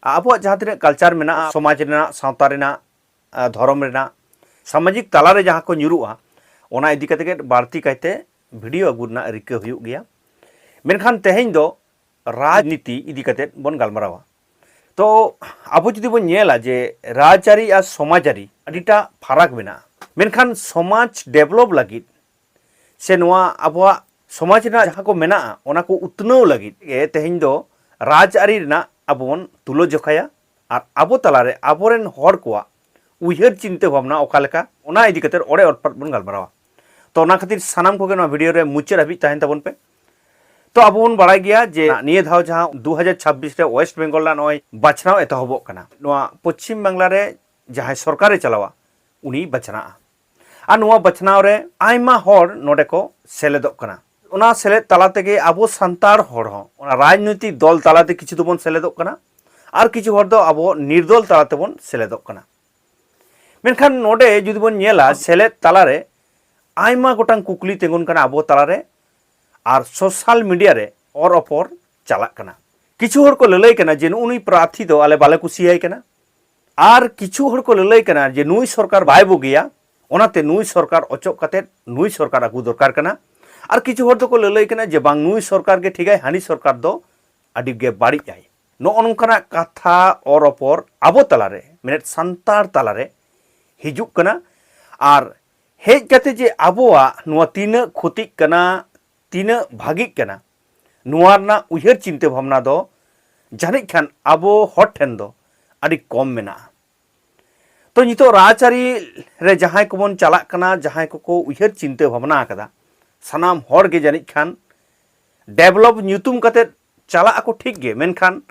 ᱟᱵᱚᱣᱟᱜ ᱡᱟᱦᱟᱸ ᱛᱤᱱᱟᱹᱜ ᱠᱟᱞᱪᱟᱨ ᱢᱮᱱᱟᱜᱼᱟ ᱥᱚᱢᱟᱡᱽ ᱨᱮᱱᱟᱜ ᱥᱟᱶᱛᱟ ᱨᱮᱱᱟᱜ ᱫᱷᱚᱨᱚᱢ ᱨᱮᱱᱟᱜ ᱥᱟᱢᱟᱡᱤᱠ ᱛᱟᱞᱟ ᱨᱮ ᱡᱟᱦᱟᱸ ᱠᱚ ᱧᱩᱨᱩᱜᱼᱟ ᱚᱱᱟ ᱤᱫᱤ ᱠᱟᱛᱮ ᱜᱮ ᱵᱟᱹᱲᱛᱤ ᱠᱟᱭᱛᱮ ᱵᱷᱤᱰᱤᱭᱳ ᱟᱹᱜᱩ ᱨᱮᱱᱟᱜ ᱨᱤᱠᱟᱹ ᱦᱩᱭᱩᱜ ᱜᱮᱭᱟ ᱢᱮᱱᱠᱷᱟᱱ ᱛᱮᱦᱮᱧ ᱫᱚ ᱨᱟᱡᱽᱱᱤᱛᱤ ᱤᱫᱤ ᱠᱟᱛᱮ ᱵᱚᱱ ᱜᱟᱞᱢᱟᱨᱟᱣᱟ ᱛᱚ ᱟᱵᱚ ᱡᱩᱫᱤ ᱵᱚᱱ ᱧᱮᱞᱟ ᱡᱮ ᱨᱟᱡᱽᱟᱹᱨᱤ ᱟᱨ ᱥᱚᱢᱟᱡᱽᱟᱹᱨᱤ ᱟᱹᱰᱤᱴᱟ ᱯᱷᱟᱨᱟᱠ ᱢᱮᱱᱟᱜᱼᱟ ᱢᱮᱱᱠᱷᱟᱱ ᱥᱚᱢᱟᱡᱽ ᱰᱮᱵᱷᱞᱚᱯ ᱞᱟᱹᱜᱤᱫ ᱥᱮ ᱱᱚᱣᱟ ᱟᱵᱚᱣᱟᱜ ᱥᱚᱢᱟᱡᱽ ᱨᱮᱱᱟᱜ ᱡᱟᱦᱟᱸ ᱠᱚ ᱢᱮᱱᱟᱜᱼᱟ ᱚᱱᱟ ᱠᱚ ᱩᱛᱱᱟᱹᱣ ᱞᱟᱹᱜᱤᱫ ᱜᱮ ᱛᱮᱦᱮᱧ ᱫᱚ ᱨᱟᱡᱽᱟᱹᱨᱤ ᱨᱮᱱᱟᱜ ᱟᱵᱚ ᱵᱚᱱ ᱛᱩᱞᱟᱹ ᱡᱚᱠᱷᱟᱭᱟ ᱟᱨ ᱟᱵᱚ ᱛᱟᱞᱟᱨᱮ ᱟᱵᱚᱨᱮᱱ ᱦᱚᱲ ᱠᱚᱣᱟᱜ ᱩᱭᱦᱟᱹᱨ ᱪᱤᱱᱛᱟᱹ ᱵᱷᱟᱵᱽᱱᱟ ᱚᱠᱟ ᱞᱮᱠᱟ ᱚᱱᱟ ᱤᱫᱤ ᱠᱟᱛᱮ ᱚᱲᱮ ᱚᱴᱯᱟᱛ ᱵᱚᱱ ᱜᱟᱞᱢᱟᱨᱟᱣᱟ ᱛᱚ ᱚᱱᱟ ᱠᱷᱟᱹᱛᱤᱨ ᱥᱟᱱᱟᱢ ᱠᱚᱜᱮ ᱱᱚᱣᱟ ᱵᱷᱤᱰᱤᱭᱳ ᱨᱮ ᱢᱩᱪᱟᱹᱫ ᱦᱟᱹᱵᱤᱡ ᱛᱟᱦᱮᱱ ᱛᱟᱵᱚᱱ ᱯᱮ ᱛᱚ ᱟᱵᱚ ᱵᱚᱱ ᱵᱟᱲᱟᱭ ᱜᱮᱭᱟ ᱡᱮ ᱱᱤᱭᱟᱹ ᱫᱷᱟᱣ ᱡᱟᱦᱟᱸ 2026 ᱨᱮ ᱳᱭᱮᱥᱴ ᱵᱮᱝᱜᱚᱞ ᱨᱮᱱᱟᱜ ᱱᱚᱜᱼᱚᱭ ᱵᱟᱪᱷᱱᱟᱣ ᱮᱛᱚᱦᱚᱵᱚᱜ ᱠᱟᱱᱟ ᱱᱚᱣᱟ ᱯᱚᱪᱷᱤᱢ ᱵᱟᱝᱞᱟ ᱨᱮ ᱡᱟᱦᱟᱸᱭ ᱥᱚᱨᱠᱟᱨᱮ ᱪᱟᱞᱟᱣᱟ ᱩᱱᱤ ᱵᱟᱪᱷᱱᱟᱜᱼᱟ ᱟᱨ ᱱᱚᱣᱟ ᱵᱟᱪᱷᱱᱟᱣ ᱨᱮ ᱟᱭᱢᱟ ᱦᱚᱲ ᱱᱚᱰᱮ ᱠᱚ ᱥᱮᱞᱮᱫᱚᱜ ᱠᱟᱱᱟ ᱚᱱᱟ ᱥᱮᱞᱮᱫ ᱛᱟᱞᱟ ᱛᱮᱜᱮ ᱟᱵᱚ ᱥᱟᱱᱛᱟᱲ ᱦᱚᱲ ᱦᱚᱸ ᱚᱱᱟ ᱨᱟᱡᱽᱱᱳᱭᱛᱤᱠ ᱫᱚᱞ ᱛᱟᱞᱟᱛᱮ ᱠᱤᱪᱷᱩ ᱫᱚᱵᱚᱱ ᱥᱮᱞᱮᱫᱚᱜ ᱠᱟᱱᱟ ᱟᱨ ᱠᱤᱪᱷᱩ ᱦᱚᱲ ᱫᱚ ᱟᱵᱚ ᱱᱤᱨᱫᱚᱞ ᱛᱟᱞᱟ ᱛᱮᱵᱚᱱ ᱥᱮᱞᱮᱫᱚᱜ ᱠᱟᱱᱟ ᱢᱮᱱᱠᱷᱟᱱ ᱱᱚᱰᱮ ᱡᱩᱫᱤ ᱵᱚᱱ ᱧᱮᱞᱟ ᱥᱮᱞᱮᱫ ᱛᱟᱞᱟᱨᱮ ᱟᱭᱢᱟ ᱜᱚᱴᱟᱝ ᱠᱩᱠᱞᱤ ᱛᱤᱸᱜᱩᱱ ᱠᱟᱱᱟ ᱟᱵᱚ ᱛᱟᱞᱟᱨᱮ ᱟᱨ ᱥᱳᱥᱟᱞ ᱢᱤᱰᱤᱭᱟ ᱨᱮ ᱚᱨ ᱚᱯᱚᱨ ᱪᱟᱞᱟᱜ ᱠᱟᱱᱟ ᱠᱤᱪᱷᱩ ᱦᱚᱲ ᱠᱚ ᱞᱟᱹᱞᱟᱹᱭ ᱠᱟᱱᱟ ᱡᱮ ᱱᱩᱜᱼᱩ ᱱᱩᱭ ᱯᱨᱟᱨᱛᱷᱤ ᱫᱚ ᱟᱞᱮ ᱵᱟᱞᱮ ᱠᱩᱥᱤᱭᱟᱭ ᱠᱟᱱᱟ ᱟᱨ ᱠᱤᱪᱷᱩ ᱦᱚᱲ ᱠᱚ ᱞᱟᱹᱞᱟᱹᱭ ᱠᱟᱱᱟ ᱡᱮ ᱱᱩᱭ ᱥᱚᱨᱠᱟᱨ ᱵᱟᱭ ᱵᱩᱜᱤᱭᱟ ᱚᱱᱟᱛᱮ ᱱᱩᱭ ᱥᱚᱨᱠᱟᱨ ᱚᱪᱚᱜ ᱠᱟᱛᱮ ᱱᱩᱭ ᱥᱚᱨᱠᱟᱨ ᱟᱹᱜᱩ ᱫᱚᱨᱠᱟᱨ ᱠᱟᱱᱟ ᱟᱨ ᱠᱤᱪᱷᱩ ᱦᱚᱲ ᱫᱚᱠᱚ ᱞᱟᱹᱞᱟᱹᱭ ᱠᱟᱱᱟ ᱡᱮ ᱵᱟᱝ ᱱᱩᱭ ᱥᱚᱨᱠᱟᱨ ᱜᱮ ᱴᱷᱤᱠᱟᱭ ᱦᱟᱹᱱᱤ ᱥᱚᱨᱠᱟᱨ ᱫᱚ ᱟᱹᱰᱤ ᱜᱮ ᱵᱟᱹᱲᱤᱡ ᱟᱭ ᱱᱚᱜᱼᱚ ᱱᱚᱝᱠᱟᱱᱟᱜ ᱠᱟᱛᱷᱟ ᱚᱨ ᱚᱯᱚᱨ ᱟᱵᱚ ᱛᱟᱞᱟᱨᱮ ᱢᱮᱱᱮᱫ ᱥᱟᱱᱛᱟᱲ ᱛᱟᱞᱟᱨᱮ ᱦᱤᱡᱩᱜ ᱠᱟᱱᱟ ᱟᱨ ᱦᱮᱡ ᱠᱟᱛᱮ ᱡᱮ ᱟᱵᱚᱣᱟᱜ ᱱᱚᱣᱟ ᱛᱤᱱᱟᱹᱜ ᱠᱷᱚᱛᱤᱜ ᱠᱟᱱᱟ ᱛᱤᱱᱟᱹᱜ ᱵᱷᱟᱹᱜᱤᱜ ᱠᱟᱱᱟ ᱱᱚᱣᱟ ᱨᱮᱱᱟᱜ ᱩᱭᱦᱟᱹᱨ ᱪᱤᱱᱛᱟᱹ ᱵᱷᱟᱵᱽᱱᱟ ᱫᱚ ᱡᱟᱹᱱᱤᱡ ᱠᱷᱟᱱ ᱟᱵᱚ ᱦᱚᱲ ᱴᱷᱮᱱ ᱫᱚ ᱟᱹᱰᱤ ᱠᱚᱢ ᱢᱮᱱᱟᱜᱼᱟ ᱛᱚ ᱱᱤᱛᱚᱜ ᱨᱟᱡᱽᱟᱹᱨᱤ ᱨᱮ ᱡᱟᱦᱟᱸᱭ ᱠᱚᱵᱚᱱ ᱪᱟᱞᱟᱜ ᱠᱟᱱᱟ ᱡᱟᱦᱟᱸᱭ ᱠᱚᱠᱚ ᱩᱭᱦᱟᱹᱨ ᱪᱤᱱᱛᱟᱹ ᱵᱷᱟᱵᱽᱱᱟ ᱟᱠᱟᱫᱟ ᱥᱟᱱᱟᱢ ᱦᱚᱲ ᱜᱮ ᱡᱟᱹᱱᱤᱡ ᱠᱷᱟᱱ ᱰᱮᱵᱷᱞᱚᱯ ᱧᱩᱛᱩᱢ ᱠᱟᱛᱮ ᱪᱟᱞᱟᱜ ᱟᱠᱚ ᱴᱷᱤᱠ ᱜᱮ ᱢᱮᱱᱠᱷᱟᱱ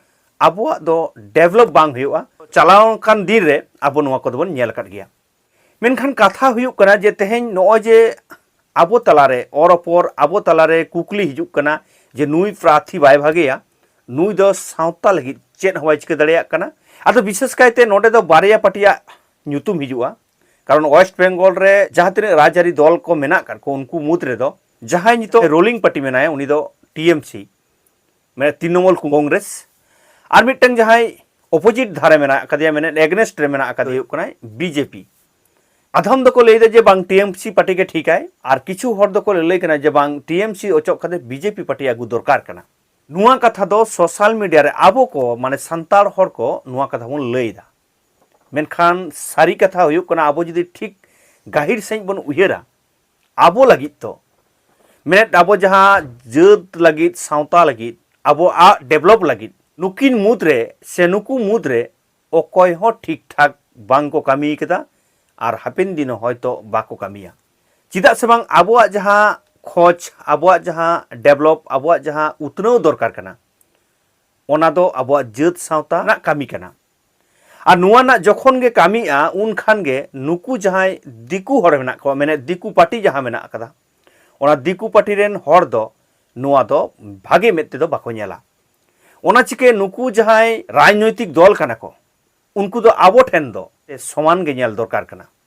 ᱟᱵᱚᱣᱟᱜ ᱫᱚ ᱰᱮᱵᱷᱞᱚᱯ ᱵᱟᱝ ᱦᱩᱭᱩᱜᱼᱟ ᱪᱟᱞᱟᱣ ᱟᱠᱟᱱ ᱫᱤᱱ ᱨᱮ ᱟᱵᱚ ᱱᱚᱣᱟ ᱠᱚᱫᱚ ᱵᱚᱱ ᱧᱮᱞ ᱟᱠᱟᱫ ᱜᱮᱭᱟ ᱢᱮᱱᱠᱷᱟᱱ ᱠᱟᱛᱷᱟ ᱦᱩᱭᱩᱜ ᱠᱟᱱᱟ ᱡᱮ ᱛᱮᱦᱮᱧ ᱱᱚᱜᱼᱚᱭ ᱡᱮ ᱟᱵᱚ ᱛᱟᱞᱟᱨᱮ ᱚᱨᱚᱯᱚᱨ ᱟᱵᱚ ᱛᱟᱞᱟᱨᱮ ᱠᱩᱠᱞᱤ ᱦᱤᱡᱩᱜ ᱠᱟᱱᱟ ᱡᱮ ᱱᱩᱭ ᱯᱨᱟᱨᱛᱷᱤ ᱵᱟᱭ ᱵᱷᱟᱜᱮᱭᱟ ᱱᱩᱭ ᱫᱚ ᱥᱟᱶᱛᱟ ᱞᱟᱹᱜᱤᱫ ᱪᱮᱫ ᱦᱚᱸ ᱵᱟᱭ ᱪᱤᱠᱟᱹ ᱫᱟᱲᱮᱭᱟᱜ ᱠᱟᱱᱟ ᱟᱫᱚ ᱵᱤᱥᱮᱥ ᱠᱟᱭᱛᱮ ᱱᱚᱰᱮ ᱫᱚ ᱵᱟᱨᱭᱟ ᱯᱟᱴᱤᱭᱟᱜ ᱧᱩᱛᱩᱢ ᱦᱤᱡᱩᱜᱼᱟ ᱠᱟᱨᱚᱱ ᱳᱭᱮᱥᱴ ᱵᱮᱝᱜᱚᱞ ᱨᱮ ᱡᱟᱦᱟᱸ ᱛᱤᱱᱟᱹᱜ ᱨᱟᱡᱽᱟᱹᱨᱤ ᱫᱚᱞ ᱠᱚ ᱢᱮᱱᱟᱜ ᱠᱟᱫ ᱠᱚ ᱩᱱᱠᱩ ᱢᱩᱫᱽ ᱨᱮᱫᱚ ᱡᱟᱦᱟᱸᱭ ᱱᱤᱛᱚᱜ ᱨᱳᱞᱤᱝ ᱯᱟᱴᱤ ᱢᱮᱱᱟᱭᱟ ᱩᱱᱤ ᱫᱚ ᱴᱤᱮᱢᱥᱤ ᱢᱟᱱᱮ ᱛᱨᱤᱱᱚᱢᱩᱞ ᱠᱚᱝᱜᱨᱮᱥ ᱟᱨ ᱢᱤᱫᱴᱟᱝ ᱡᱟᱦᱟᱸᱭ ᱚᱯᱳᱡᱤᱴ ᱫᱷᱟᱨᱮ ᱢᱮᱱᱟᱜ ᱟᱠᱟᱫᱮᱭᱟ ᱢᱮᱱᱮᱫ ᱮᱜᱱᱮᱥᱴ ᱨᱮ ᱢᱮᱱᱟᱜ ᱟᱠᱟᱫᱮ ᱦᱩᱭᱩᱜ ᱠᱟᱱᱟᱭ ᱵᱤᱡᱮᱯᱤ ᱟᱫᱷᱚᱢ ᱫᱚᱠᱚ ᱞᱟᱹᱭ ᱮᱫᱟ ᱡᱮ ᱵᱟᱝ ᱴᱤᱮᱢᱥᱤ ᱯᱟᱨᱴᱤ ᱜᱮ ᱴᱷᱤᱠᱟᱭ ᱟᱨ ᱠᱤᱪᱷᱩ ᱦᱚᱲ ᱫᱚᱠᱚ ᱞᱟᱹᱭ ᱠᱟᱱᱟ ᱡᱮ ᱵᱟᱝ ᱴᱤᱮᱢᱥᱤ ᱚᱪᱚᱜ ᱠᱟᱛᱮ ᱵᱤᱡᱮᱯᱤ ᱯᱟᱨᱴᱤ ᱟᱹᱜᱩ ᱫᱚᱨᱠᱟᱨ ᱠᱟᱱᱟ ᱱᱚᱣᱟ ᱠᱟᱛᱷᱟ ᱫᱚ ᱥᱳᱥᱟᱞ ᱢᱤᱰᱤᱭᱟ ᱨᱮ ᱟᱵᱚ ᱠᱚ ᱢᱟᱱᱮ ᱥᱟᱱᱛᱟᱲ ᱦᱚᱲ ᱠᱚ ᱱᱚᱣᱟ ᱠᱟᱛᱷᱟ ᱵᱚᱱ ᱞᱟᱹᱭ ᱮᱫᱟ ᱢᱮᱱᱠᱷᱟᱱ ᱥᱟᱹᱨᱤ ᱠᱟᱛᱷᱟ ᱦᱩᱭᱩᱜ ᱠᱟᱱᱟ ᱟᱵᱚ ᱡᱩᱫᱤ ᱴᱷᱤᱠ ᱜᱟᱹᱦᱤᱨ ᱥᱟᱺᱦᱤᱡ ᱵᱚᱱ ᱩᱭᱦᱟᱹᱨᱟ ᱟᱵᱚ ᱞᱟᱹᱜᱤᱫ ᱫᱚ ᱢᱮᱱᱮᱫ ᱟᱵᱚ ᱡᱟᱦᱟᱸ ᱡᱟᱹᱛ ᱞᱟᱹᱜᱤᱫ ᱥᱟᱶᱛᱟ ᱞᱟᱹᱜᱤᱫ ᱟᱵᱚᱣᱟᱜ ᱰᱮᱵᱷᱞᱚᱯ ᱞᱟᱹᱜᱤᱫ ᱱᱩᱠᱤᱱ ᱢᱩᱫᱽ ᱨᱮ ᱥᱮ ᱱᱩᱠᱩ ᱢᱩᱫᱽ ᱨᱮ ᱚᱠᱚᱭ ᱦᱚᱸ ᱴᱷᱤᱠ ᱴᱷᱟᱠ ᱵᱟᱝ ᱠᱚ ᱠᱟᱹᱢᱤ ᱠᱟᱫᱟ ᱟᱨ ᱦᱟᱯᱮᱱ ᱫᱤᱱ ᱦᱚᱭᱛᱚ ᱵᱟᱠᱚ ᱠᱟᱹᱢᱤᱭᱟ ᱪᱮᱫᱟᱜ ᱥᱮ ᱵᱟᱝ ᱟᱵᱚᱣᱟᱜ ᱡᱟᱦᱟᱸ ᱠᱷᱚᱡᱽ ᱟᱵᱚᱣᱟᱜ ᱡᱟᱦᱟᱸ ᱰᱮᱵᱷᱞᱚᱯ ᱟᱵᱚᱣᱟᱜ ᱡᱟᱦᱟᱸ ᱩᱛᱱᱟᱹᱣ ᱫᱚᱨᱠᱟᱨ ᱠᱟᱱᱟ ᱚᱱᱟ ᱫᱚ ᱟᱵᱚᱣᱟᱜ ᱡᱟᱹᱛ ᱥᱟᱶᱛᱟ ᱨᱮᱱᱟᱜ ᱠᱟᱹᱢᱤ ᱠᱟᱱᱟ ᱟᱨ ᱱᱚᱣᱟ ᱨᱮᱱᱟᱜ ᱡᱚᱠᱷᱚᱱ ᱜᱮ ᱠᱟᱹᱢᱤᱜᱼᱟ ᱩᱱ ᱠᱷᱟᱱ ᱜᱮ ᱱᱩᱠᱩ ᱡᱟᱦᱟᱸᱭ ᱫᱤᱠᱩ ᱦᱚᱲ ᱢᱮᱱᱟᱜ ᱠᱚᱣᱟ ᱢᱮᱱᱮᱫ ᱫᱤᱠᱩ ᱯᱟᱨᱴᱤ ᱡᱟᱦᱟᱸ ᱢᱮᱱᱟᱜ ᱟᱠᱟᱫᱟ ᱚᱱᱟ ᱫᱤᱠᱩ ᱯᱟᱨᱴᱤ ᱨᱮᱱ ᱦᱚᱲ ᱫᱚ ᱱᱚᱣᱟ ᱫᱚ ᱵᱷᱟᱜᱮ ᱢᱮᱫ ᱛᱮᱫᱚ ᱵᱟᱠᱚ ᱧᱮᱞᱟ ᱚᱱᱟ ᱪᱤᱠᱟᱹ ᱱᱩᱠᱩ ᱡᱟᱦᱟᱸᱭ ᱨᱟᱡᱽᱱᱳᱭᱛᱤᱠ ᱫᱚᱞ ᱠᱟᱱᱟ ᱠᱚ ᱩᱱᱠᱩ ᱫᱚ ᱟᱵᱚ ᱴᱷᱮᱱ ᱫᱚ ᱥᱚᱢᱟᱱ ᱜᱮ ᱧᱮᱞ ᱫᱚᱨᱠᱟᱨ ᱠᱟᱱᱟ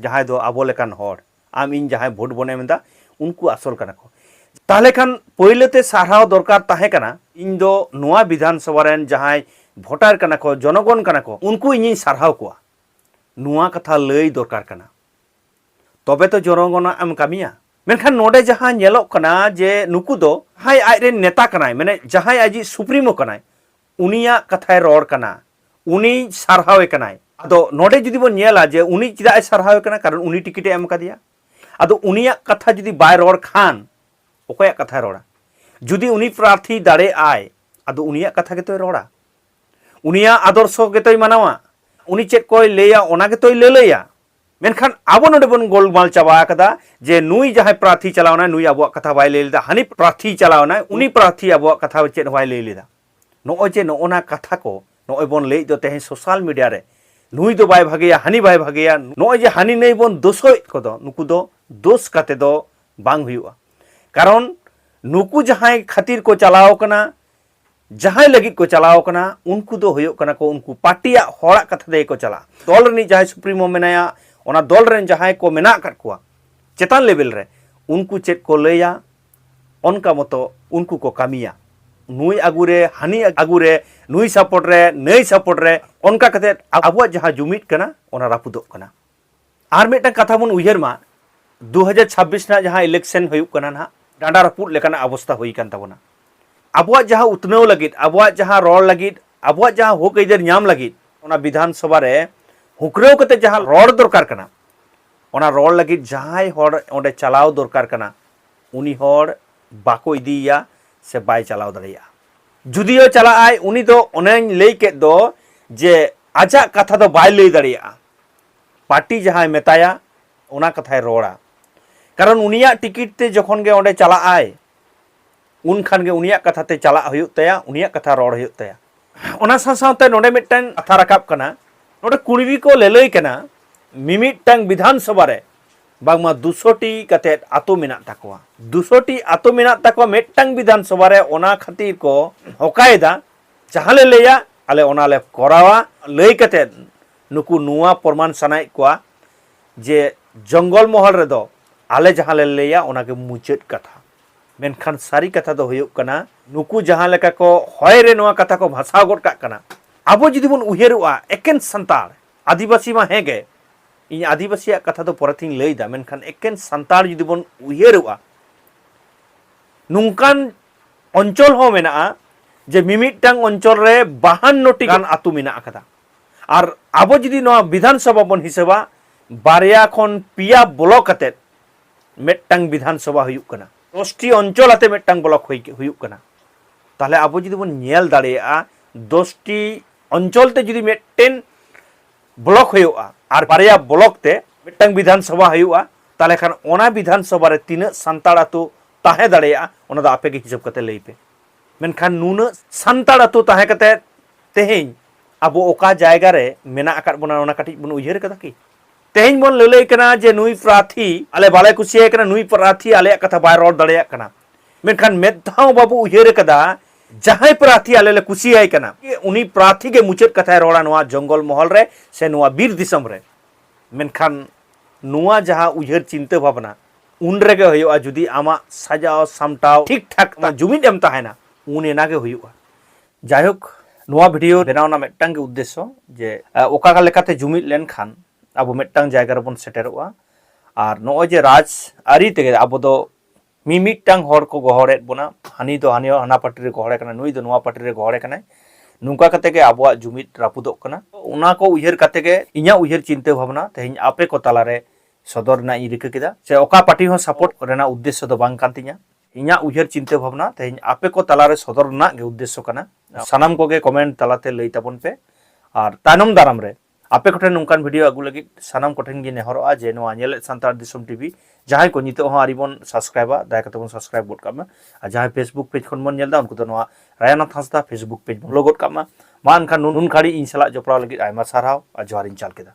ᱡᱟᱦᱟᱸᱭ ᱫᱚ ᱟᱵᱚ ᱞᱮᱠᱟᱱ ᱦᱚᱲ ᱟᱢ ᱤᱧ ᱡᱟᱦᱟᱸᱭ ᱵᱷᱳᱴ ᱵᱚᱱ ᱮᱢ ᱮᱫᱟ ᱩᱱᱠᱩ ᱟᱥᱚᱞ ᱠᱟᱱᱟ ᱠᱚ ᱛᱟᱦᱞᱮ ᱠᱷᱟᱱ ᱯᱳᱭᱞᱳ ᱛᱮ ᱥᱟᱨᱦᱟᱣ ᱫᱚᱨᱠᱟᱨ ᱛᱟᱦᱮᱸ ᱠᱟᱱᱟ ᱤᱧ ᱫᱚ ᱱᱚᱣᱟ ᱵᱤᱫᱷᱟᱱ ᱥᱚᱵᱷᱟ ᱨᱮᱱ ᱡᱟᱦᱟᱸᱭ ᱵᱷᱳᱴᱟᱨ ᱠᱟᱱᱟ ᱠᱚ ᱡᱚᱱᱚᱜᱚᱱ ᱠᱟᱱᱟ ᱠᱚ ᱩᱱᱠᱩ ᱤᱧᱤᱧ ᱥᱟᱨᱦᱟᱣ ᱠᱚᱣᱟ ᱱᱚᱣᱟ ᱠᱟᱛᱷᱟ ᱞᱟᱹᱭ ᱫᱚᱨᱠᱟᱨ ᱠᱟᱱᱟ ᱛᱚᱵᱮ ᱛᱚ ᱡᱚᱱᱚᱜᱚᱱᱟᱜ ᱮᱢ ᱠᱟᱹᱢᱤᱭᱟ ᱢᱮᱱᱠᱷᱟᱱ ᱱᱚᱰᱮ ᱡᱟᱦᱟᱸ ᱧᱮᱞᱚᱜ ᱠᱟᱱᱟ ᱡᱮ ᱱᱩᱠᱩ ᱫᱚ ᱡᱟᱦᱟᱸᱭ ᱟᱡ ᱨᱮᱱ ᱱᱮᱛᱟ ᱠᱟᱱᱟᱭ ᱢᱟᱱᱮ ᱡᱟᱦᱟᱸᱭ ᱟᱡᱤᱡ ᱥᱩᱯᱨᱤᱢᱳ ᱠᱟᱱᱟᱭ ᱩᱱᱤᱭᱟᱜ ᱠᱟᱛᱷᱟᱭ ᱨᱚᱲ ᱠᱟᱱᱟ ᱩᱱᱤ ᱥᱟᱨᱦᱟᱣᱮ ᱠᱟᱱᱟᱭ ᱟᱫᱚ ᱱᱚᱰᱮ ᱡᱩᱫᱤ ᱵᱚᱱ ᱧᱮᱞᱟ ᱡᱮ ᱩᱱᱤ ᱪᱮᱫᱟᱜ ᱮ ᱥᱟᱨᱦᱟᱣᱮ ᱠᱟᱱᱟ ᱠᱟᱨᱚᱱ ᱩᱱᱤ ᱴᱤᱠᱤᱴ ᱮ ᱮᱢ ᱠᱟᱫᱮᱭᱟ ᱟᱫᱚ ᱩᱱᱤᱭᱟᱜ ᱠᱟᱛᱷᱟ ᱡᱩᱫᱤ ᱵᱟᱭ ᱨᱚᱲ ᱠᱷᱟᱱ ᱚᱠᱚᱭᱟᱜ ᱠᱟᱛᱷᱟᱭ ᱨᱚᱲᱟ ᱡᱩᱫᱤ ᱩᱱᱤ ᱯᱨᱟᱨᱛᱷᱤ ᱫᱟᱲᱮ ᱟᱭ ᱟᱫᱚ ᱩᱱᱤᱭᱟᱜ ᱠᱟᱛᱷᱟ ᱜᱮᱛᱚᱭ ᱨᱚᱲᱟ ᱩᱱᱤᱭᱟᱜ ᱟᱫᱚᱨᱥᱚ ᱜᱮᱛᱚᱭ ᱢᱟᱱᱟᱣᱟ ᱩᱱᱤ ᱪᱮᱫ ᱠᱚᱭ ᱞᱟᱹᱭᱟ ᱚᱱᱟ ᱜᱮᱛᱚᱭ ᱞᱟᱹᱞᱟᱹᱭᱟ ᱢᱮᱱᱠᱷᱟᱱ ᱟᱵᱚ ᱱᱚᱰᱮ ᱵᱚᱱ ᱜᱳᱞᱢᱟᱞ ᱪᱟᱵᱟ ᱟᱠᱟᱫᱟ ᱡᱮ ᱱᱩᱭ ᱡᱟᱦᱟᱸᱭ ᱯᱨᱟᱨᱛᱷᱤ ᱪᱟᱞᱟᱣᱱᱟᱭ ᱱᱩᱭ ᱟᱵᱚᱣᱟᱜ ᱠᱟᱛᱷᱟ ᱵᱟᱭ ᱞᱟᱹᱭ ᱞᱮᱫᱟ ᱦᱟᱹᱱᱤ ᱯᱨᱟᱨᱛᱷᱤ ᱪᱟᱞᱟᱣᱱᱟᱭ ᱩᱱᱤ ᱯᱨᱟᱨᱛᱷᱤ ᱟᱵᱚᱣᱟᱜ ᱠᱟᱛᱷᱟ ᱪᱮᱫ ᱵᱟᱭ ᱞᱟᱹᱭ ᱞᱮᱫᱟ ᱱᱚᱜᱼᱚᱭ ᱡᱮ ᱱᱚᱜᱼᱚᱱᱟ ᱠᱟᱛᱷᱟ ᱠᱚ ᱱᱚᱜᱼᱚᱭ ᱵᱚᱱ ᱞᱟᱹᱭᱮᱫ ᱫᱚ ᱛᱮᱦᱮᱧ ᱥᱳᱥᱟᱞ ᱢᱤᱰᱤᱭᱟ ᱨᱮ ᱱᱩᱭ ᱫᱚ ᱵᱟᱭ ᱵᱷᱟᱜᱮᱭᱟ ᱦᱟᱹᱱᱤ ᱵᱟᱭ ᱵᱷᱟᱜᱮᱭᱟ ᱱᱚᱜᱼᱚᱭ ᱡᱮ ᱦᱟᱹᱱᱤ ᱱᱟᱹᱭ ᱵᱚᱱ ᱫᱳᱥᱚᱭᱮᱫ ᱠᱚᱫᱚ ᱱᱩᱠᱩ ᱫᱚ ᱫᱳᱥ ᱠᱟᱛᱮ ᱫᱚ ᱵᱟᱝ ᱦᱩᱭᱩᱜᱼᱟ ᱠᱟᱨᱚᱱ ᱱᱩᱠᱩ ᱡᱟᱦᱟᱸᱭ ᱠᱷᱟᱹᱛᱤᱨ ᱠᱚ ᱪᱟᱞᱟᱣ ᱠᱟᱱᱟ ᱡᱟᱦᱟᱸᱭ ᱞᱟᱹᱜᱤᱫ ᱠᱚ ᱪᱟᱞᱟᱣ ᱠᱟᱱᱟ ᱩᱱᱠᱩ ᱫᱚ ᱦᱩᱭᱩᱜ ᱠᱟᱱᱟ ᱠᱚ ᱩᱱᱠᱩ ᱯᱟᱨᱴᱤᱭᱟᱜ ᱦᱚᱲᱟᱜ ᱠᱟᱛᱷᱟ ᱛᱮᱜᱮ ᱠᱚ ᱪᱟᱞᱟᱜᱼᱟ ᱫᱚᱞ ᱨᱤᱱᱤᱡ ᱡᱟᱦᱟᱸᱭ ᱥᱩᱯᱨᱤᱢᱳ ᱢᱮᱱᱟᱭᱟ ᱚᱱᱟ ᱫᱚᱞ ᱨᱮᱱ ᱡᱟᱦᱟᱸᱭ ᱠᱚ ᱢᱮᱱᱟᱜ ᱟᱠᱟᱫ ᱠᱚᱣᱟ ᱪᱮᱛᱟᱱ ᱞᱮᱵᱮᱞ ᱨᱮ ᱩᱱᱠᱩ ᱪᱮᱫ ᱠᱚ ᱞᱟᱹᱭᱟ ᱚᱱᱠᱟ ᱢᱚᱛᱚ ᱩᱱᱠᱩ ᱠᱚ ᱠᱟᱹᱢᱤᱭᱟ ᱱᱩᱭ ᱟᱹᱜᱩ ᱨᱮ ᱦᱟᱹᱱᱤ ᱟᱹᱜᱩ ᱨᱮ ᱱᱩᱭ ᱥᱟᱯᱳᱨᱴ ᱨᱮ ᱱᱟᱹᱭ ᱥᱟᱯᱳᱨᱴ ᱨᱮ ᱚᱱᱠᱟ ᱠᱟᱛᱮ ᱟᱵᱚᱣᱟᱜ ᱡᱟᱦᱟᱸ ᱡᱩᱢᱤᱫ ᱠᱟᱱᱟ ᱚᱱᱟ ᱨᱟᱹᱯᱩᱫᱚᱜ ᱠᱟᱱᱟ ᱟᱨ ᱢᱤᱫᱴᱟᱝ ᱠᱟᱛᱷᱟ ᱵᱚᱱ ᱩᱭᱦᱟᱹᱨ ᱢᱟ 2026 ᱨᱮᱱᱟᱜ ᱡᱟᱦᱟᱸ ᱤᱞᱮᱠᱥᱚᱱ ᱦᱩᱭᱩᱜ ᱠᱟᱱᱟ ᱱᱟᱦᱟᱜ ᱰᱟᱸᱰᱟ ᱨᱟᱹᱯᱩᱫ ᱞᱮᱠᱟᱱᱟᱜ ᱚᱵᱚᱥᱛᱟ ᱦᱩᱭ ᱠᱟᱱ ᱛᱟᱵᱚᱱᱟ ᱟᱵᱚᱣᱟᱜ ᱡᱟᱦᱟᱸ ᱩᱛᱱᱟᱹᱣ ᱞᱟᱹᱜᱤᱫ ᱟᱵᱚᱣᱟᱜ ᱡᱟᱦᱟᱸ ᱨᱚᱲ ᱞᱟᱹᱜᱤᱫ ᱟᱵᱚᱣᱟᱜ ᱡᱟᱦᱟᱸ ᱦᱚᱠ ᱟᱹᱭᱫᱟᱹᱨ ᱧᱟᱢ ᱞᱟᱹᱜᱤᱫ ᱚᱱᱟ ᱵᱤᱫᱷᱟᱱ ᱥᱚᱵᱷᱟ ᱨᱮ ᱦᱩᱠᱨᱟᱹᱣ ᱠᱟᱛᱮ ᱡᱟᱦᱟᱸ ᱨᱚᱲ ᱫᱚᱨᱠᱟᱨ ᱠᱟᱱᱟ ᱚᱱᱟ ᱨᱚᱲ ᱞᱟᱹᱜᱤᱫ ᱡᱟᱦᱟᱸᱭ ᱦᱚᱲ ᱚᱸᱰᱮ ᱪᱟᱞᱟᱣ ᱫᱚᱨᱠᱟᱨ ᱠᱟᱱᱟ ᱩᱱᱤ ᱦᱚᱲ ᱵᱟᱠᱚ ᱤᱫᱤᱭᱮᱭᱟ ᱥᱮ ᱵᱟᱭ ᱪᱟᱞᱟᱣ ᱫᱟᱲᱮᱭᱟᱜᱼᱟ ᱡᱩᱫᱤᱭᱳ ᱪᱟᱞᱟᱜᱼᱟᱭ ᱩᱱᱤ ᱫᱚ ᱚᱱᱮᱧ ᱞᱟᱹᱭ ᱠᱮᱫ ᱫᱚ ᱡᱮ ᱟᱡᱟᱜ ᱠᱟᱛᱷᱟ ᱫᱚ ᱵᱟᱭ ᱞᱟᱹᱭ ᱫᱟᱲᱮᱭᱟᱜᱼᱟ ᱯᱟᱨᱴᱤ ᱡᱟᱦᱟᱸᱭ ᱢᱮᱛᱟᱭᱟ ᱚᱱᱟ ᱠᱟᱛᱷᱟᱭ ᱨᱚᱲᱟ ᱠᱟᱨᱚᱱ ᱩᱱᱤᱭᱟᱜ ᱴᱤᱠᱤᱴ ᱛᱮ ᱡᱚᱠᱷᱚᱱ ᱜᱮ ᱚᱸᱰᱮ ᱪᱟᱞᱟᱜ ᱟᱭ ᱩᱱ ᱠᱷᱟᱱ ᱜᱮ ᱩᱱᱤᱭᱟᱜ ᱠᱟᱛᱷᱟ ᱛᱮ ᱪᱟᱞᱟᱜ ᱦᱩᱭᱩᱜ ᱛᱟᱭᱟ ᱩᱱᱤᱭᱟᱜ ᱠᱟᱛᱷᱟ ᱨᱚᱲ ᱦᱩᱭᱩᱜ ᱛᱟᱭᱟ ᱚᱱᱟ ᱥᱟᱶ ᱥᱟᱶᱛᱮ ᱱᱚᱰᱮ ᱢᱤᱫᱴᱟᱝ ᱠᱟᱛᱷᱟ ᱨᱟᱠᱟᱵ ᱠᱟᱱᱟ ᱱᱚᱰᱮ ᱠᱩᱲᱵᱤ ᱠᱚ ᱞᱟᱹᱞᱟᱹᱭ ᱠᱟᱱᱟ ᱢᱤᱢᱤᱫᱴᱟᱝ ᱵᱤᱫᱷᱟᱱ ᱥᱚᱵᱷᱟ ᱨᱮ ᱵᱟᱝᱢᱟ ᱫᱩᱥᱚᱴᱤ ᱠᱟᱛᱮ ᱟᱛᱳ ᱢᱮᱱᱟᱜ ᱛᱟᱠᱚᱣᱟ ᱫᱩᱥᱚᱴᱤ ᱟᱛᱳ ᱢᱮᱱᱟᱜ ᱛᱟᱠᱚᱣᱟ ᱢᱤᱫᱴᱟᱝ ᱵᱤᱫᱷᱟᱱ ᱥᱚᱵᱷᱟ ᱨᱮ ᱚᱱᱟ ᱠᱷᱟᱹᱛᱤᱨ ᱠᱚ ᱦᱚᱠᱟᱭᱮᱫᱟ ᱡᱟᱦᱟᱸ ᱞᱮ ᱞᱟᱹᱭᱟ ᱟᱞᱮ ᱚᱱᱟ ᱞᱮ ᱠᱚᱨᱟᱣᱟ ᱞᱟᱹᱭ ᱠᱟᱛᱮ ᱱᱩᱠᱩ ᱱᱚᱣᱟ ᱯᱨᱚᱢᱟᱱ ᱥᱟᱱᱟᱭᱮᱫ ᱠᱚᱣᱟ ᱡᱮ ᱡᱚᱝᱜᱚᱞ ᱢᱚᱦᱚᱞ ᱨᱮᱫᱚ ᱟᱞᱮ ᱡᱟᱦᱟᱸ ᱞᱮ ᱞᱟᱹᱭᱟ ᱚᱱᱟ ᱜᱮ ᱢᱩᱪᱟᱹᱫ ᱠᱟᱛᱷᱟ ᱢᱮᱱᱠᱷᱟᱱ ᱥᱟᱹᱨᱤ ᱠᱟᱛᱷᱟ ᱫᱚ ᱦᱩᱭᱩᱜ ᱠᱟᱱᱟ ᱱᱩᱠᱩ ᱡᱟᱦᱟᱸ ᱞᱮᱠᱟ ᱠᱚ ᱦᱚᱭ ᱨᱮ ᱱᱚᱣᱟ ᱠᱟᱛᱷᱟ ᱠᱚ ᱵᱷᱟᱥᱟᱣ ᱜᱚᱫ ᱠᱟᱜ ᱠᱟᱱᱟ ᱟᱵᱚ ᱡᱩᱫᱤ ᱵᱚᱱ ᱩᱭᱦᱟᱹᱨᱚᱜᱼᱟ ᱮᱠᱮᱱ ᱥᱟᱱᱛᱟᱲ ᱟᱹᱫᱤᱵᱟᱹᱥᱤ ᱢᱟ ᱦᱮᱸ ᱜᱮ ᱤᱧ ᱟᱹᱫᱤᱵᱟᱹᱥᱤᱭᱟᱜ ᱠᱟᱛᱷᱟ ᱫᱚ ᱯᱚᱨᱮ ᱛᱤᱧ ᱞᱟᱹᱭ ᱮᱫᱟ ᱢᱮᱱᱠᱷᱟᱱ ᱮᱠᱮᱱ ᱥᱟᱱᱛᱟᱲ ᱡᱩᱫᱤ ᱵᱚᱱ ᱩᱭᱦᱟᱹᱨᱚᱜᱼᱟ ᱱᱚᱝᱠᱟᱱ ᱚᱧᱪᱚᱞ ᱦᱚᱸ ᱢᱮᱱᱟᱜᱼᱟ ᱡᱮ ᱢᱤᱢᱤᱫᱴᱟᱝ ᱚᱧᱪᱚᱞ ᱨᱮ ᱵᱟᱦᱟᱱᱱᱚᱴᱤ ᱜᱟᱱ ᱟᱹᱛᱩ ᱢᱮᱱᱟᱜ ᱟᱠᱟᱫᱟ ᱟᱨ ᱟᱵᱚ ᱡᱩᱫᱤ ᱱᱚᱣᱟ ᱵᱤᱫᱷᱟᱱ ᱥᱚᱵᱷᱟ ᱵᱚᱱ ᱦᱤᱥᱟᱹᱵᱟ ᱵᱟᱨᱭᱟ ᱠᱷᱚᱱ ᱯᱮᱭᱟ ᱵᱞᱚᱠ ᱟᱛᱮ ᱢᱤᱫᱴᱟᱝ ᱵᱤᱫᱷᱟᱱ ᱥᱚᱵᱷᱟ ᱦᱩᱭᱩᱜ ᱠᱟᱱᱟ ᱫᱚᱥᱴᱤ ᱚᱧᱪᱚᱞ ᱟᱛᱮ ᱢᱤᱫᱴᱟᱝ ᱵᱞᱚᱠ ᱦᱩᱭᱩᱜ ᱠᱟᱱᱟ ᱛᱟᱦᱞᱮ ᱟᱵᱚ ᱡᱩᱫᱤ ᱵᱚᱱ ᱧᱮᱞ ᱫᱟᱲᱮᱭᱟᱜᱼᱟ ᱫᱚᱥᱴᱤ ᱚᱧᱪᱚᱞ ᱛᱮ ᱡᱩᱫᱤ ᱢᱤᱫᱴᱮᱱ ᱵᱞᱚᱠ ᱦᱩᱭᱩᱜᱼᱟ ᱟᱨ ᱵᱟᱨᱭᱟ ᱵᱞᱚᱠ ᱛᱮ ᱢᱤᱫᱴᱟᱝ ᱵᱤᱫᱷᱟᱱ ᱥᱚᱵᱷᱟ ᱦᱩᱭᱩᱜᱼᱟ ᱛᱟᱦᱞᱮ ᱠᱷᱟᱱ ᱚᱱᱟ ᱵᱤᱫᱷᱟᱱ ᱥᱚᱵᱷᱟ ᱨᱮ ᱛᱤᱱᱟᱹᱜ ᱥᱟᱱᱛᱟᱲ ᱟᱛᱳ ᱛᱟᱦᱮᱸ ᱫᱟᱲᱮᱭᱟᱜᱼᱟ ᱚᱱᱟ ᱫᱚ ᱟᱯᱮ ᱜᱮ ᱦᱤᱥᱟᱹᱵ ᱠᱟᱛᱮ ᱞᱟᱹᱭ ᱯᱮ ᱢᱮᱱᱠᱷᱟᱱ ᱱᱩᱱᱟᱹᱜ ᱥᱟᱱᱛᱟᱲ ᱟᱛᱳ ᱛᱟᱦᱮᱸ ᱠᱟᱛᱮ ᱛᱮᱦᱮᱧ ᱟᱵᱚ ᱚᱠᱟ ᱡᱟᱭᱜᱟ ᱨᱮ ᱢᱮᱱᱟᱜ ᱟᱠᱟᱫ ᱵᱚᱱᱟ ᱚᱱᱟ ᱠᱟᱹᱴᱤᱡ ᱵᱚᱱ ᱩᱭᱦᱟᱹᱨ ᱠᱟᱫᱟ ᱠᱤ ᱛᱮᱦᱮᱧ ᱵᱚᱱ ᱞᱟᱹᱞᱟᱹᱭ ᱠᱟᱱᱟ ᱡᱮ ᱱᱩᱭ ᱯᱨᱟᱨᱛᱷᱤ ᱟᱞᱮ ᱵᱟᱞᱮ ᱠᱩᱥᱤᱭᱟᱭ ᱠᱟᱱᱟ ᱱᱩᱭ ᱯᱨᱟᱨᱛᱷᱤ ᱟᱞᱮᱭᱟᱜ ᱠᱟᱛᱷᱟ ᱵᱟᱭ ᱨᱚᱲ ᱫᱟᱲᱮᱭᱟᱜ ᱠᱟᱱᱟ ᱢᱮᱱᱠᱷᱟᱱ ᱢᱮᱫ ᱫᱷᱟᱣ ᱵᱟᱵᱚ ᱩᱭᱦᱟᱹᱨ ᱠᱟᱫᱟ ᱡᱟᱦᱟᱸᱭ ᱯᱨᱟᱨᱛᱷᱤ ᱟᱞᱮ ᱞᱮ ᱠᱩᱥᱤᱭᱟᱭ ᱠᱟᱱᱟ ᱩᱱᱤ ᱯᱨᱟᱨᱛᱷᱤ ᱜᱮ ᱢᱩᱪᱟᱹᱫ ᱠᱟᱛᱷᱟᱭ ᱨᱚᱲᱟ ᱱᱚᱣᱟ ᱡᱚᱝᱜᱚᱞ ᱢᱚᱦᱚᱞ ᱨᱮ ᱥᱮ ᱱᱚᱣᱟ ᱵᱤᱨ ᱫᱤᱥᱚᱢ ᱨᱮ ᱢᱮᱱᱠᱷᱟᱱ ᱱᱚᱣᱟ ᱡᱟᱦᱟᱸ ᱩᱭᱦᱟᱹᱨ ᱪᱤᱱᱛᱟᱹ ᱵᱷᱟᱵᱽᱱᱟ ᱩᱱ ᱨᱮᱜᱮ ᱦᱩᱭᱩᱜᱼᱟ ᱡᱩᱫᱤ ᱟᱢᱟᱜ ᱥᱟᱡᱟᱣ ᱥᱟᱢᱴᱟᱣ ᱴᱷᱤᱠ ᱴᱷᱟᱠ ᱟᱢᱟᱜ ᱡᱩᱢᱤᱫ ᱮᱢ ᱛᱟᱦᱮᱱᱟ ᱩᱱ ᱮᱱᱟ ᱜᱮ ᱦᱩᱭᱩᱜᱼᱟ ᱡᱟᱭᱦᱳᱠ ᱱᱚᱣᱟ ᱵᱷᱤᱰᱤᱭᱳ ᱵᱮᱱᱟᱣ ᱨᱮᱱᱟᱜ ᱢᱤᱫᱴᱟᱝ ᱜᱮ ᱩᱫᱽᱫᱮᱥᱥᱚ ᱡᱮ ᱚᱠᱟ ᱞᱮᱠᱟᱛᱮ ᱡᱩᱢᱤᱫ ᱞᱮᱱᱠᱷᱟᱱ ᱟᱵᱚ ᱢᱤᱫᱴᱟᱝ ᱡᱟᱭᱜᱟ ᱨᱮᱵᱚᱱ ᱥᱮᱴᱮᱨᱚᱜᱼᱟ ᱟᱨ ᱱᱚᱜᱼᱚᱭ ᱡᱮ ᱨᱟᱡᱽ ᱟᱹᱨᱤ ᱛᱮᱜᱮ ᱟᱵᱚ ᱫᱚ ᱢᱤᱢᱤᱫᱴᱟᱝ ᱦᱚᱲ ᱠᱚ ᱜᱚᱦᱚᱲᱮᱫ ᱵᱚᱱᱟ ᱦᱟᱹᱱᱤ ᱫᱚ ᱦᱟᱹᱱᱤ ᱦᱟᱱᱟ ᱯᱟᱴᱤ ᱨᱮ ᱜᱚᱦᱚᱲᱮ ᱠᱟᱱᱟ ᱱᱩᱭ ᱫᱚ ᱱᱚᱣᱟ ᱯᱟᱴᱤ ᱨᱮ ᱜᱚᱦᱚᱲᱮ ᱠᱟᱱᱟᱭ ᱱᱚᱝᱠᱟ ᱠᱟᱛᱮ ᱜᱮ ᱟᱵᱚᱣᱟᱜ ᱡᱩᱢᱤᱫ ᱨᱟᱹᱯᱩᱫᱚᱜ ᱠᱟᱱᱟ ᱚᱱᱟ ᱠᱚ ᱩᱭᱦᱟᱹᱨ ᱠᱟᱛᱮ ᱜᱮ ᱤᱧᱟᱹᱜ ᱩᱭᱦᱟᱹᱨ ᱪᱤᱱᱛᱟᱹ ᱵᱷᱟᱵᱽᱱᱟ ᱛᱮᱦᱮᱧ ᱟᱯᱮ ᱠᱚ ᱛᱟᱞᱟᱨᱮ ᱥᱚᱫᱚᱨ ᱨᱮᱱᱟᱜ ᱤᱧ ᱨᱤᱠᱟᱹ ᱠᱮᱫᱟ ᱥᱮ ᱚᱠᱟ ᱯᱟᱨᱴᱤ ᱦᱚᱸ ᱥᱟᱯᱳᱨᱴ ᱨᱮᱱᱟᱜ ᱩᱫᱽᱫᱮᱥᱥᱚ ᱫᱚ ᱵᱟᱝ ᱠᱟᱱ ᱛᱤᱧᱟ ᱤᱧᱟᱹᱜ ᱩᱭᱦᱟᱹᱨ ᱪᱤᱱᱛᱟᱹ ᱵᱷᱟᱵᱽᱱᱟ ᱛᱮᱦᱮᱧ ᱟᱯᱮ ᱠᱚ ᱛᱟᱞᱟ ᱨᱮ ᱥᱚᱫᱚᱨ ᱨᱮᱱᱟᱜ ᱜᱮ ᱩᱫᱽᱫᱮᱥᱥᱚ ᱠᱟᱱᱟ ᱥᱟᱱᱟᱢ ᱠᱚᱜᱮ ᱠᱚᱢᱮᱱᱴ ᱛᱟᱞᱟᱛᱮ ᱞᱟᱹᱭ ᱛᱟᱵᱚᱱ ᱯᱮ ᱟᱨ ᱛᱟᱭᱱᱚᱢ ᱫᱟᱨᱟᱢ ᱨᱮ ᱟᱯᱮ ᱠᱚᱴᱷᱮᱱ ᱱᱚᱝᱠᱟᱱ ᱵᱷᱤᱰᱤᱭᱳ ᱟᱹᱜᱩ ᱞᱟᱹᱜᱤᱫ ᱥᱟᱱᱟᱢ ᱠᱚᱴᱷᱮᱱ ᱜᱮ ᱱᱮᱦᱚᱨᱚᱜᱼᱟ ᱡᱮ ᱱᱚᱣᱟ ᱧᱮᱞᱮᱫ ᱥᱟᱱᱛᱟᱲ ᱫᱤᱥᱚᱢ ᱴᱤᱵᱷᱤ ᱡᱟᱦᱟᱸᱭ ᱠᱚ ᱱᱤᱛᱚᱜ ᱦᱚᱸ ᱟᱹᱣᱨᱤ ᱵᱚᱱ ᱥᱟᱵᱥᱠᱨᱟᱭᱤᱵᱟ ᱫᱟᱭᱟ ᱠᱟᱛᱮ ᱵᱚᱱ ᱥᱟᱵᱥᱠᱨᱟᱭᱤᱵ ᱜᱚᱫ ᱠᱟᱜ ᱢᱟ ᱟᱨ ᱡᱟᱦᱟᱸᱭ ᱯᱷᱮᱥᱵᱩᱠ ᱯᱮᱡᱽ ᱠᱷᱚᱱ ᱵᱚᱱ ᱧᱮᱞ ᱮᱫᱟ ᱩᱱᱠᱩ ᱫᱚ ᱱᱚᱣᱟ ᱨᱟᱭᱟᱱᱟᱛᱷ ᱦᱟᱸᱥᱫᱟ ᱯᱷᱮᱥᱵᱩᱠ ᱯᱮᱡᱽ ᱵᱚᱱ ᱞᱚᱜ ᱜᱚᱫ ᱠᱟᱜ ᱢᱟ ᱢᱟ ᱮᱱᱠᱷᱟᱱ ᱱᱩᱱ ᱜᱷᱟᱹᱲᱤᱡ ᱤᱧ ᱥᱟᱞᱟᱜ ᱡᱚᱯᱲᱟᱣ ᱞᱟᱹᱜᱤᱫ ᱟᱭᱢᱟ ᱥᱟᱨᱦᱟᱣ ᱟᱨ ᱡᱚᱦᱟᱨᱤᱧ ᱪᱟᱞ ᱠᱮᱫᱟ